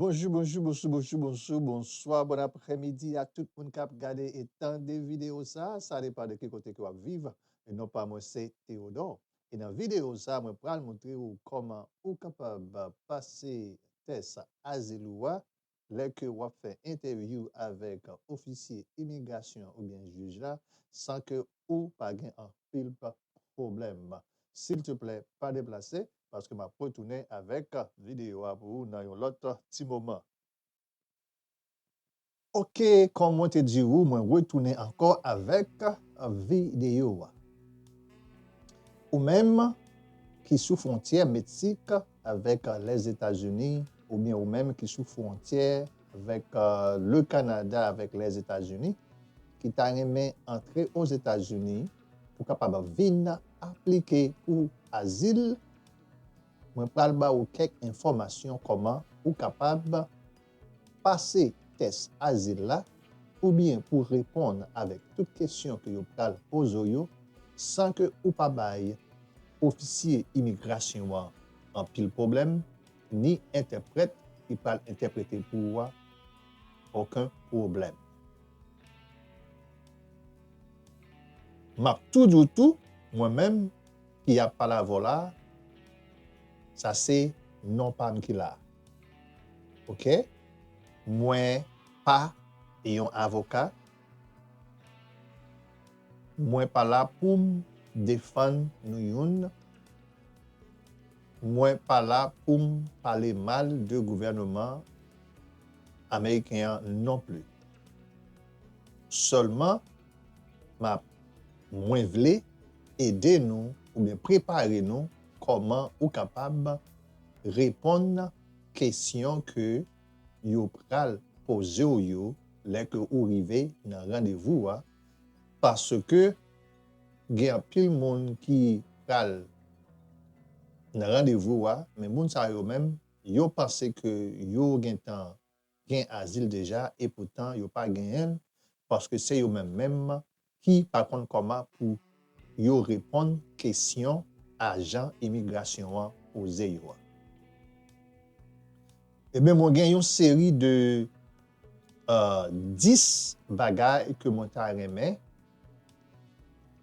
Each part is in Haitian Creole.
Bonjou bonjou bonsou bonsou bonsou bonswa bon aprè midi a tout moun kap gade e tande video sa sa depan de ki kote ke wap viv non pa mwen se Theodore e nan video sa mwen pral moutre ou kòman ou kapab pase tès azil ou a lè ke wap fè entèvyou avèk ofisye imigrasyon oubyen jij la san ke ou pa gen anpil pwoblèm silteplè pa deplase paske map retounen avèk video a pou ou nan yon lòt ti moman. Ok kòm mwen te di ou mwen retounen ankò avèk video a. Ou menm ki sou fwontyè Meksik avèk Lèzetazini oubyen ou menm ki sou fwontyè avèk le Kanada avèk Lèzetazini ki ta renmen antre Ozetazini. pou kapab vin aplike pou azil mwen pral ba ou kèk enfòmasyon kòman ou kapab pase tès azil la oubyen pou reponn avèk tout kesyon ke yo pral poze w yo san ke ou pa bay ofisye imigrasyon an anpil pwoblèm ni entèprèt ki pral entèprete pou ou a oken pwoblèm. M ap tou di w tou, mwen menm ki ap pale avè w la a, sa se non pa m ki la a. Oke? Mwen pa yon avoka, mwen pa la pou m defann nou youn Mwen pa la poum pale mal de gouvèneman ameriken an non pli. Sèlman map mwen vle ede nou oubyen prepare nou kòman ou kapab reponn kesyon ke yo pral pozew yo lè ke ou rive nan randevou a paske Gen anpil moun ki pral nan randevou a, men moun sa yo menm, yo panse ke yo gentan gen azil deja e poutan yo pa genyen l, paske se yo menm menm ki pa konn kòman pou yo reponn kesyon ajan imigrasyon an poze yo a. Enben mwen gen yon seri de 10 bagay ke mwen ta renmen.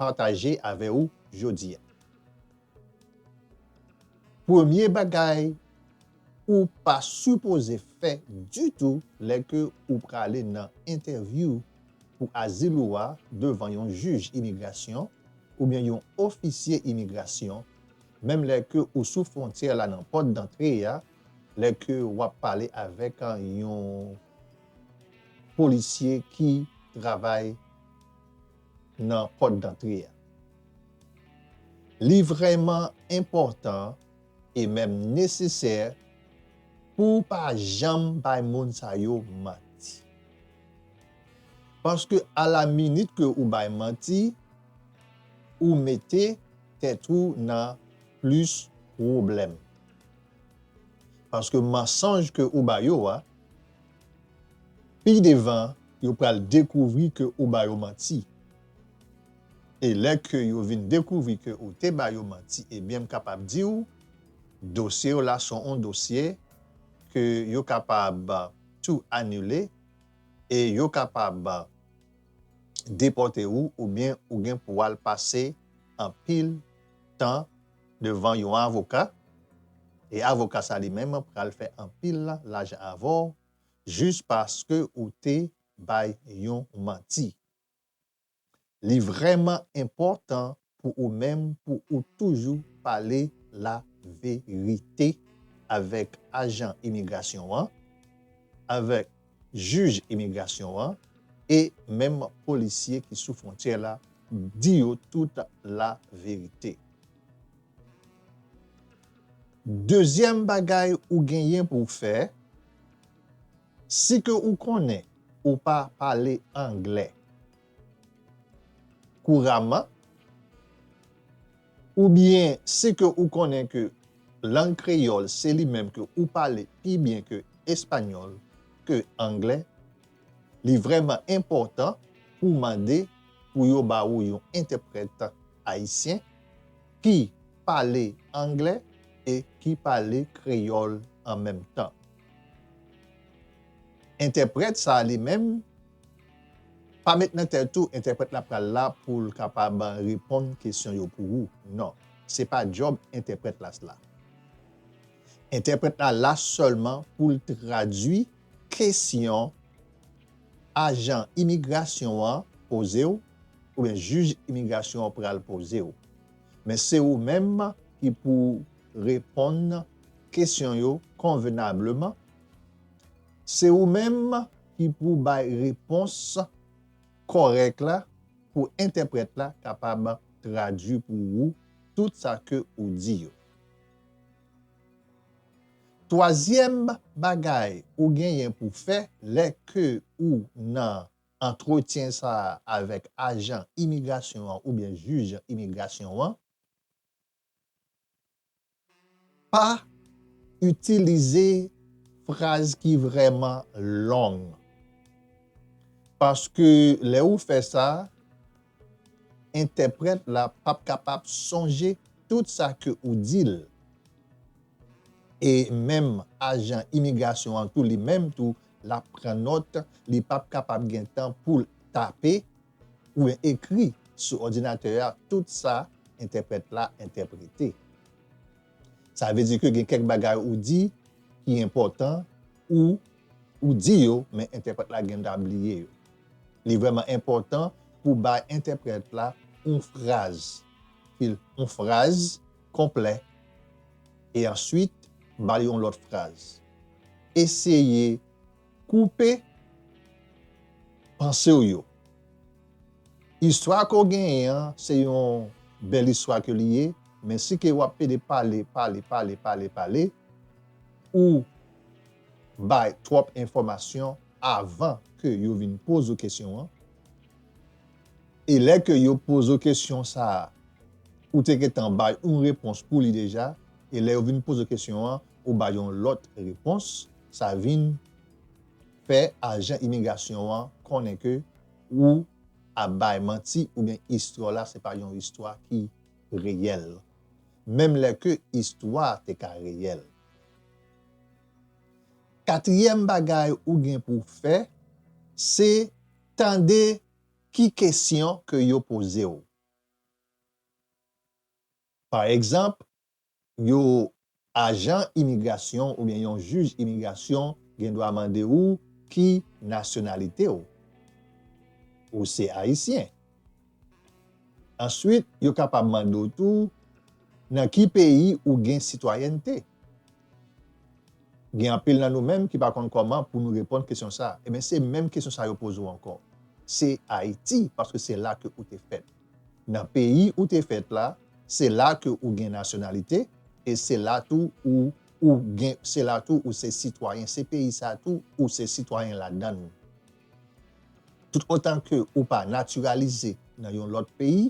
pataje avè ou jodi a. Premye bagay ou pa sipoze fè ditou lè ke ou prale nan entèvyou pou azil ou a devan yon jij imigrasyon oubyen yon ofisye imigrasyon, menm lè ke ou sou fwontyè la nan pòt dantre a, lè ke wap pale avèk yon. polisye ki travay nan pòt dantre a. Li vrèman enpòtan e menm nesesè pou w pa janm bay moun sa yo manti. Paske a la minit ke ou bay manti, ou mete tèt ou nan plis pwoblèm. Paske mansonj ke ou ba yo a, pi devan yo pral dekouvri ke ou ba yo manti. E lè ke yo vin dekouvri ke ou te ba yo manti ebyen m kapab di ou dosye w la son on dosye ke yo kapab tou anile e yo kapab depòte ou oubyen ou gen pou al pase anpil tan devan yon avoka e avoka sa li menm pral fè anpil lajan avè w jis paske ou te bay yon manti. Li vrèman enpòtan pou ou menm pou ou toujou pale laverite avèk ajan imigrasyon an, avèk. jij imigrasyon an e menm polisye ki sou fwontyè la di yo tout laverite. Dezyèm bagay ou genyen pou w fè, si ke ou konnen ou pa pale anglè kouraman, Oubyen si ke ou konnen ke lang kreyòl se li menm ke ou pale pi byen ke espanyòl, ke anglè, li vrèman enpòtan pou w mande pou yo ba ou yon entèprèt ayisyen ki pale anglè e ki pale kreyòl an menm tan. Entèprèt sa li menm. Pa met nan tèt ou entèprèt la pral la poul kapab reponn kesyon yo pou ou non se pa djòb entèprèt la sla entèprèt la la sèlman poul tradwi kesyon ajan imigrasyon an pozew oubyen jij imigrasyon an pral pozew men se ou menm ki pou reponn kesyon yo konvenableman se ou menm ki pou bay repons kòrèk la pou entèprèt la kapab tradui pou ou tout sa ke ou di yo. Twazyèm bagay ou genyen pou fè lè ke ou nan antretyen sa a avèk ajan imigrasyon an oubyen jij imigrasyon an, Pa itilize fraz ki vrèman long. Paske lè ou fè sa, entèprèt la p ap kapab sonje tout sa ke ou di l. E menm ajan imigrasyon an tou li menm tou l ap pran nòt, li p ap kapab gen tan pou l tape Oubyen ekri sou òdinatè a tout sa entèprèt la entèprete. Sa vle di ke gen kèk bagay ou di ki enpòtan ou ou di yo men entèprèt la gen ta bliye yo. Li vrèman enpòtan pou w bay entèprèt la yon fraz ki yon fraz konplè e answit ba l yon lòt fraz. Eseye Koupe panse w yo. Istwa ke w genyen an, se yon bèl istwa ke li ye, men si ke w ap pede pale, pale, pale, pale, pale, ou bay twòp enfòmasyon avan ke yo vin poze w kesyon an, e lè ke yo poze w kesyon sa a, ou te gentan bay yon repons pou li deja, e lè yo vin poze w kesyon an, ou bay yon lòt repons. Sa vin fè ajan imigrasyon an konnen ke ou ap bay manti oubyen istwa w la se pa yon istwa ki reyèl, menm lè ke istwa a te ka reyèl. Katriyèm bagay ou gen pou w fè, se tande ki kesyon ke yo poze w. Pa egzanp, yo ajan imigrasyon oubyen yon jij imigrasyon gen dwa mande ou ki nasyonalite w. Ou se Ayisyen. Answit yo kapab mande w tou nan ki peyi ou gen sitwayènte. Gen anpil nan nou menm ki pa konn kòman pou nou reponn kesyon sa. Ebyen se menm kesyon sa yo poze w ankò. Se Ayiti paske se la ke ou te fèt. Nan peyi ou te fèt la, se la ke ou gen nasyonalite e se la tou ou ou gen se la tou ou se sitwayen se peyi sa tou ou se sitwayen ladan l. Tout otan ke ou pa natiralize nan yon lòt peyi,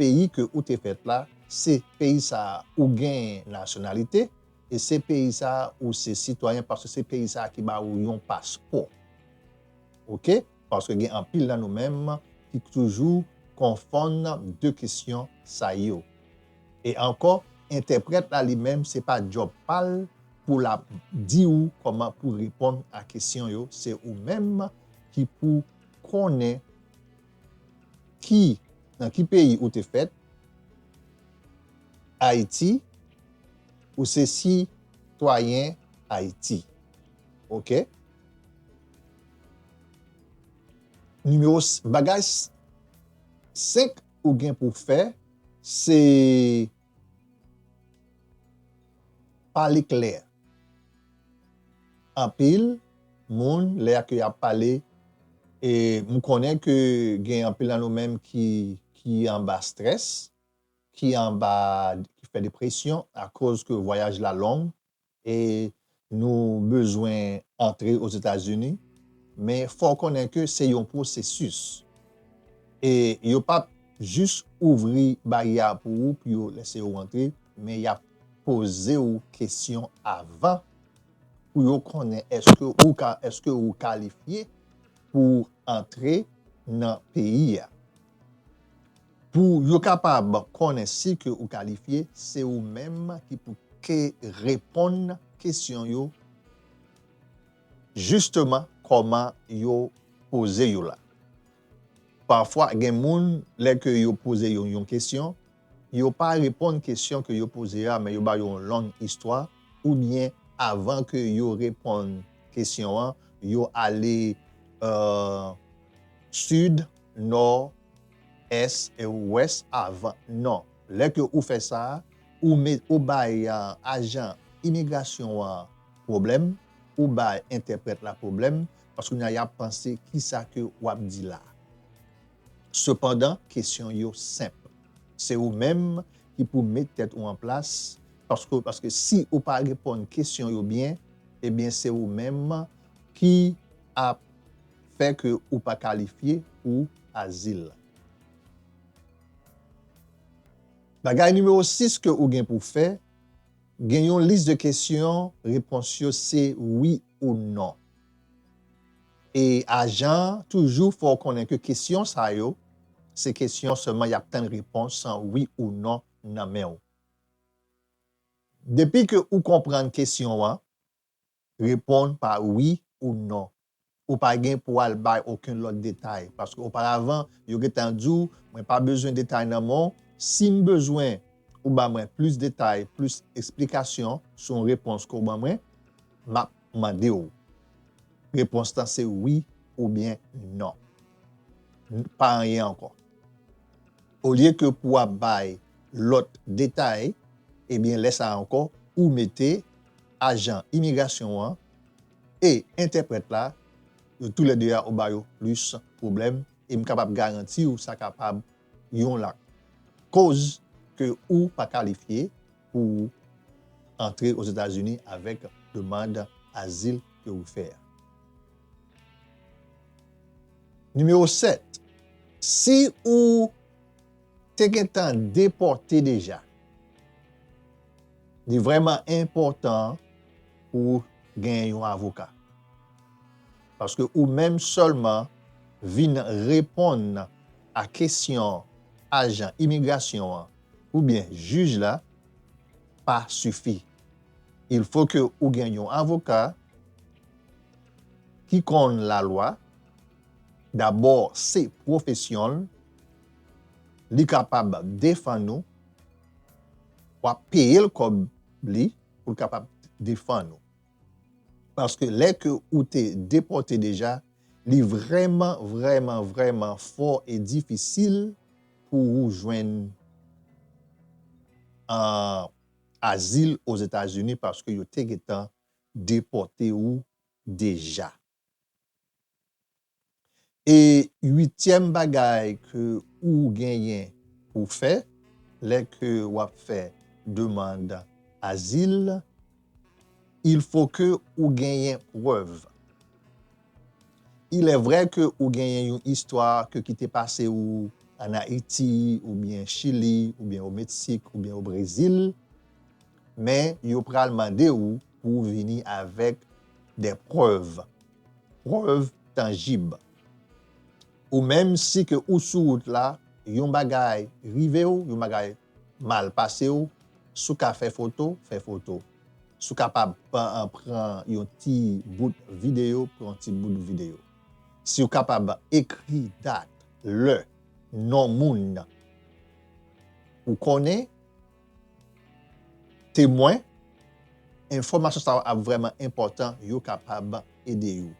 peyi ke ou te fèt la, se peyi sa ou gen nasyonalite e se peyi sa ou se sitwayen paske se peyi sa ki ba ou yon paspò. Ok. Paske gen anpil nan nou menm ki toujou konfonn 2 kesyon sa yo. E ankò, entèprèt la li menm se pa djòb pa l pou l ap di ou kòman pou reponn a kesyon yo, se ou menm ki pou konnen ki nan ki peyi ou te fèt, Ayiti, ou se sitwayen Ayiti. Ok. Nimewo 5, Bagay 5 ou gen pou w fè se pale klè. Anpil moun lè a ke y ap pale, e m konnen ke gen anpil nan nou menm ki anba strès, ki anba, ki fè depresyon akoz ke vwayaj la long, E nou bezwen antre Ozetazini, men fò w konnen ke se yon pwosesis. E yo pap jis ouvri baryè a pou ou pou yo lese ou antre, men y ap poze ou kesyon avan pou yo konnen eske ou ka, eske ou kalifye pou antre nan peyi a. Pou yo kapab konnen si ke ou kalifye, se ou menm ki pou ke reponn kesyon yo jisteman kòman yo poze yo la. Pafwa gen moun lè ke yo poze yo yon kesyon, yo pa reponn kesyon ke yo poze a men yo ba yo yon long istwa oubyen avan ke yo reponn kesyon an yo ale sid, nò, Ès e ou wès avan? Non. Lè ke ou fè sa, ou me, ou bay ajan imigrasyon an pwoblèm, ou bay entèprèt la pwoblèm, paske kounye a y ap panse ki sa ke w ap di la a. Sepandan, kesyon yo senp. Se ou menm ki pou met tèt ou an plas, paske, paske si ou pa reponn kesyon yo byen, ebyen se ou menm ki ap. fè ke ou pa kalifye pou azil la. Bagay nimewo 6 ke ou gen pou fè, gen yon lis de kesyon repons yo se wi ou non. E ajan an toujou fè w konnen ke kesyon sa yo se kesyon sèlman y ap tann repons an wi ou non nan men ou. Depi ke ou konprann kesyon an, Reponn pa wi ou non. Ou pa gen pou al bay oken lòt detay paske oparavan yo gentan di w mwen pa bezwen detay nan men w, si m bezwen ou ban mwen plis detay, plis esplikasyon sou yon repons ke w ban mwen, m ap mande w. Repons lan se wi oubyen non. Pa anyen ankò. Olye ke pou ap bay lòt detay, ebyen lè sa ankò ou mete ajan imigrasyon an e entèprèt la, yo tou lè 2 a ou ba yo plis pwoblèm e m kapab garanti w sa kapab yon lakoz ke ou pa kalifye pou ou antre Ozetazini avèk demand azil ke ou fè a. Nimewo 7, Si ou te gentan depòte deja, li vrèman enpòtan pou ou gen yon avoka. Paske ou menm sèlman vin reponn a kesyon ajan imigrasyon an oubyen jij la pa sifi. Il fo ke ou gen yon avoka ki konn lalwa, dabò se pwofesyon l, li kapab defann ou, w ap peye l kòb li pou l kapab defann ou. Paske lè ke ou te depòte deja, li vrèman, vrèman, vrèman fò e difisil. pou ou jwenn azil Ozetazini paske yo te gentan depòte ou deja. E uityèm bagay ke ou genyen pou fè lè ke wap fè demand azil Il faut que ou genyen prèv. Il est vrai que ou genyen yon istwa ke ki te pase ou an Ayiti ou byen Chili ou byen o Meksik ou byen o Brezil men yo pral mande ou pou ou vini avèk des preuves, prèv tanjib. Ou menm si ke ou sou wout la, yon bagay rive w, yon bagay mal pase w, si w ka fè foto, fè foto. Si w kapab pran yon ti bout videyo, pran yon ti bout videyo. Si w kapab ekri dat, lè, non moun ou konnen. Temwen, Enfòmasyon sa yo ap vrèman enpòtan, yo kapab ede ou.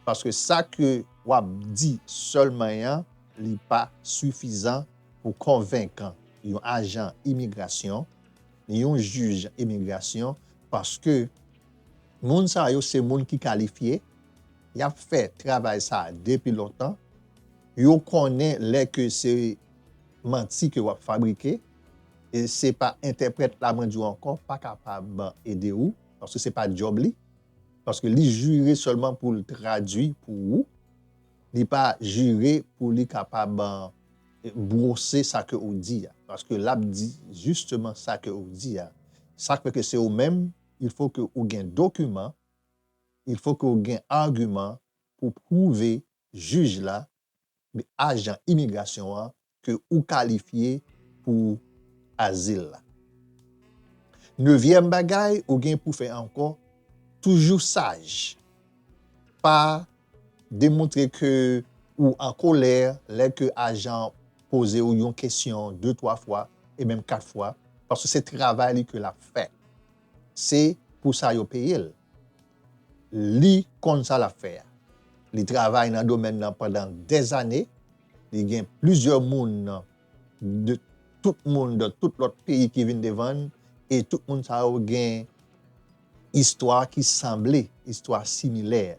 Paske sa ke w ap di sèlman an, li pa sifizan pou konvenk yon ajan imigrasyon, ni yon jij imigrasyon, paske moun sa yo se moun ki kalifye, y ap fè travay sa a depi lontan, yo konnen lè ke se manti ke w ap fabrike, e se pa entèprèt la mwen di w ankò pa kapab ede ou paske se pa djòb li paske li jire sèlman pou l tradui pou ou li pa jire pou li kapab bwose sa ke ou di a paske l ap di jisteman sa ke ou di a sa k fè ke se ou menm il fò ke ou gen dokiman il fò ke ou gen agiman pou pwouve jij la ajan imigrasyon an ke ou kalifye pou azil la. Nevyèm bagay ou gen pou fè ankò, toujou saj. Pa demontre ke ou an kolè lè ke ajan poze ou yon kesyon de twa fwa e menm kat fwa, paske se travay li ke l ap fè. Se pou sa yo peye l. Li konn sa l ap fè a. Li travay nan domèn nan pandan dèzane. Li gen plizyè moun de tout moun de tout lòt peyi ki vin devan n e tout moun sa yo gen istwa ki sanble, istwa similè.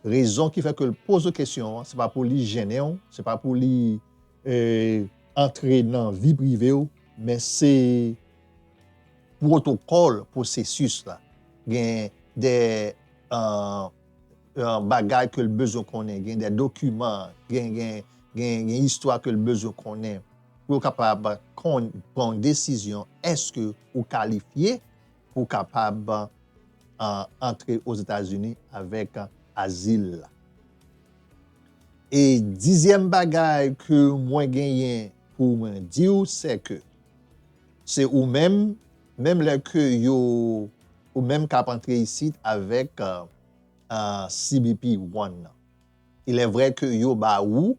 Rezon ki fè ke l poze w kesyon an, se pa pou li jennen w, se pa pou li antre nan vi prive w, men se pwotokòl pwosesis la. Gen de. bagay ke l bezwen konnen, gen dè dokiman, gen istwa ke l bezwen konnen pou yo kapab konn pran yon desizyon èske ou kalifye pou w kapab antre Ozetazini avèk azil la. E dizyèm bagay ke mwen genyen pou mwen di w sè ke se ou menm, menm lè ke yo Ou menm kap antre isit avèk CBP One nan, ilèvrè ke yo ba ou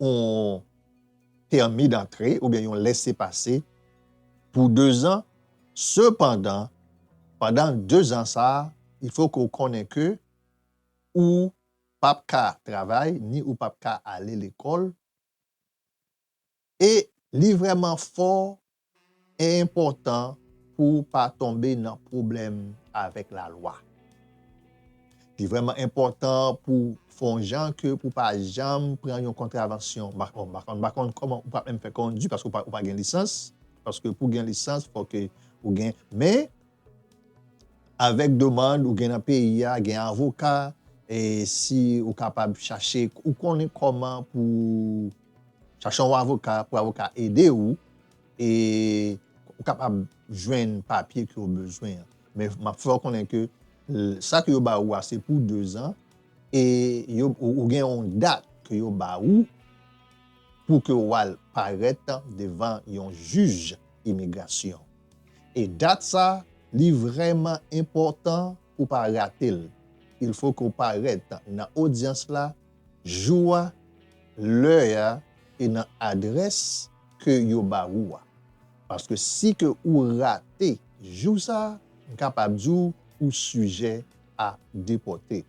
yon pèmi dantre oubyen yon lèse pase pou dezan, sepandan, pandan dezan sa a, il fò ke ou konnen ke ou pap ka travay ni ou pap ka ale lekòl. E li vrèman fò e enpòtan pou ou pa tonbe nan pwoblèm avèk lalwa. Li vrèman enpòtan pou ou fè yon jan ke pou pa janm pran yon kontravansyon. Bon, m pa konn kòman ou pral menm fè kondi paske ou pa gen lisans, paske pou gen lisans fò ke ou gen, men avèk demand ou gen nan peyi a, gen avoka e si ou kapab chache, ou konnen kòman pou. Chache yon avoka pou avoka ede ou e ou kapab jwenn papye ke ou bezwen an. Men map fè ou konnen ke sa ke yo ba ou a se pou 2 zan e ou gen yon dat ke yo ba ou pou ke ou al parèt devan yon jij imigrasyon. E dat sa li vrèman enpòtan pou pa rate l, il fo ke w parèt nan odyans la jou a, lè a e nan adrès ke yo ba ou a. Paske si ke ou rate jou sa, m kapab di w ou sijè a depòte.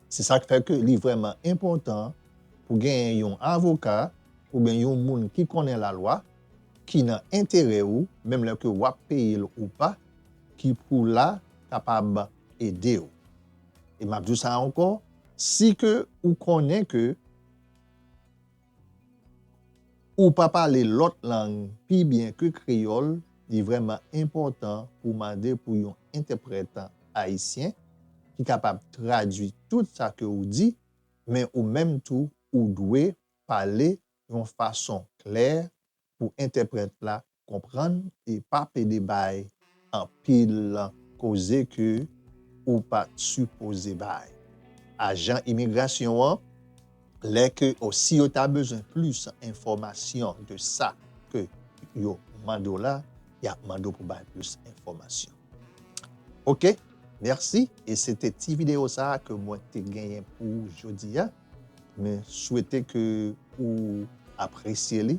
Se sa k fè ke li vrèman enpòtan pou genyen yon avoka oubyen yon moun ki konnen lalwa ki nan enterè ou, menm lè ke w ap peye l ou pa, ki pou la kapab ede w. E m ap di w sa ankò, si ke ou konnen ke ou pa pale lòt lang pi byen ke kreyòl, li vrèman enpòtan pou w mande pou yon entèprèt ayisyen ki kapab tradui tout sa ke ou di, men ou menm tou ou dwe pale yon fason klè pou entèprèt la Konprann e pa pede bay anpil koze ke ou pa sipoze bay ajan imigrasyon an lè ke o si yo ta bezwen plis enfòmasyon de sa ke yo mande w la, y ap mande w pou bay plis enfòmasyon. Ok, mèsi e se te ti videyo sa a ke mwen te genyen pou jodi a. Mwen swete ke ou apresye li.